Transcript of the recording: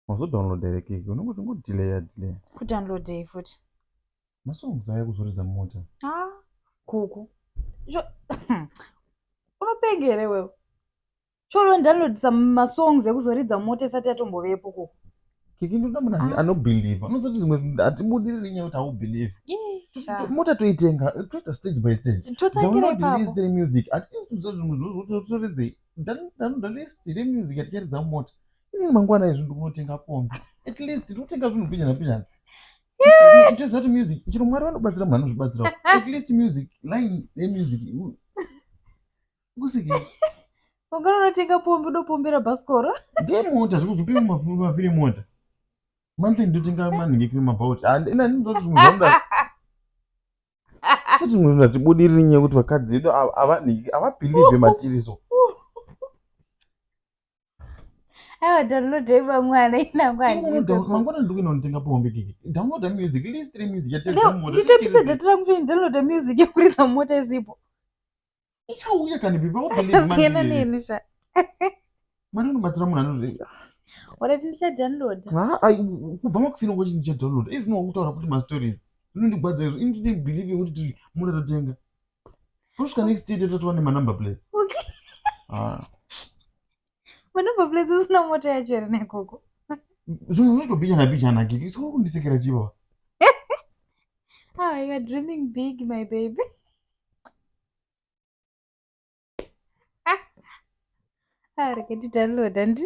Wazo download here keke unongo zvingo delayer delayer. Ku download yei futi? Ma songs aya kuzoridza mota. Ah, kuku. Jo Unopenga here wewe? Choro download some ma songs ekuzoridza mota isati yatombovepo kuku. Keke ndoda munhu ah. ano believe. Anozoti zimwe atibudire nenyaya kuti au believe. Yeah. Mota toitenga, toita stage by stage. Totangira ipapo. Download this music. Ati tuzozvimwe zvozvotoridze. ndanoda list here music yaticharidza mumota ini mangwana izvi ndikunotenga kombi at least ndikutenga zvinhu pinjana pinjana ichiziva kuti music chero mwari vanobatsira munhu anozvibatsirawo at least music line yemusic kusike ungana unotenga pombi unopombera bhasikoro ndemota zvikuzupi maviri mota monthly ndotenga manhingi kune mabhaut ina ndinototi zvinhu zvamuda kuti munhu atibudiriri nyaya kuti vakadzi vedu havabhilivhe matiriso aiwa downloadai vamwana inangwanimangwana ndiri kuenda kunotenga pombe kiki downloada music list remusic yatenditapisa data rangu kuti ndidownloada music yekuridza mota isipo ichauya kani biba wabelievemandiyena neni sha mari unobatsira munhu anozvei kubva makusina ngo chinhu chadownload izvi zvinowa kutaura kuti mastories zvinondigwadza izvo ini tine believe yekuti mura totenga tosvika next year tatova nemanumber plates Vanobva place usina mota yacho here nekoko? Zvimwe unoitobhichana bhichana kiki. Saka kundisekera chivo. Ah, you are dreaming big my baby. Ah, reketi download handi.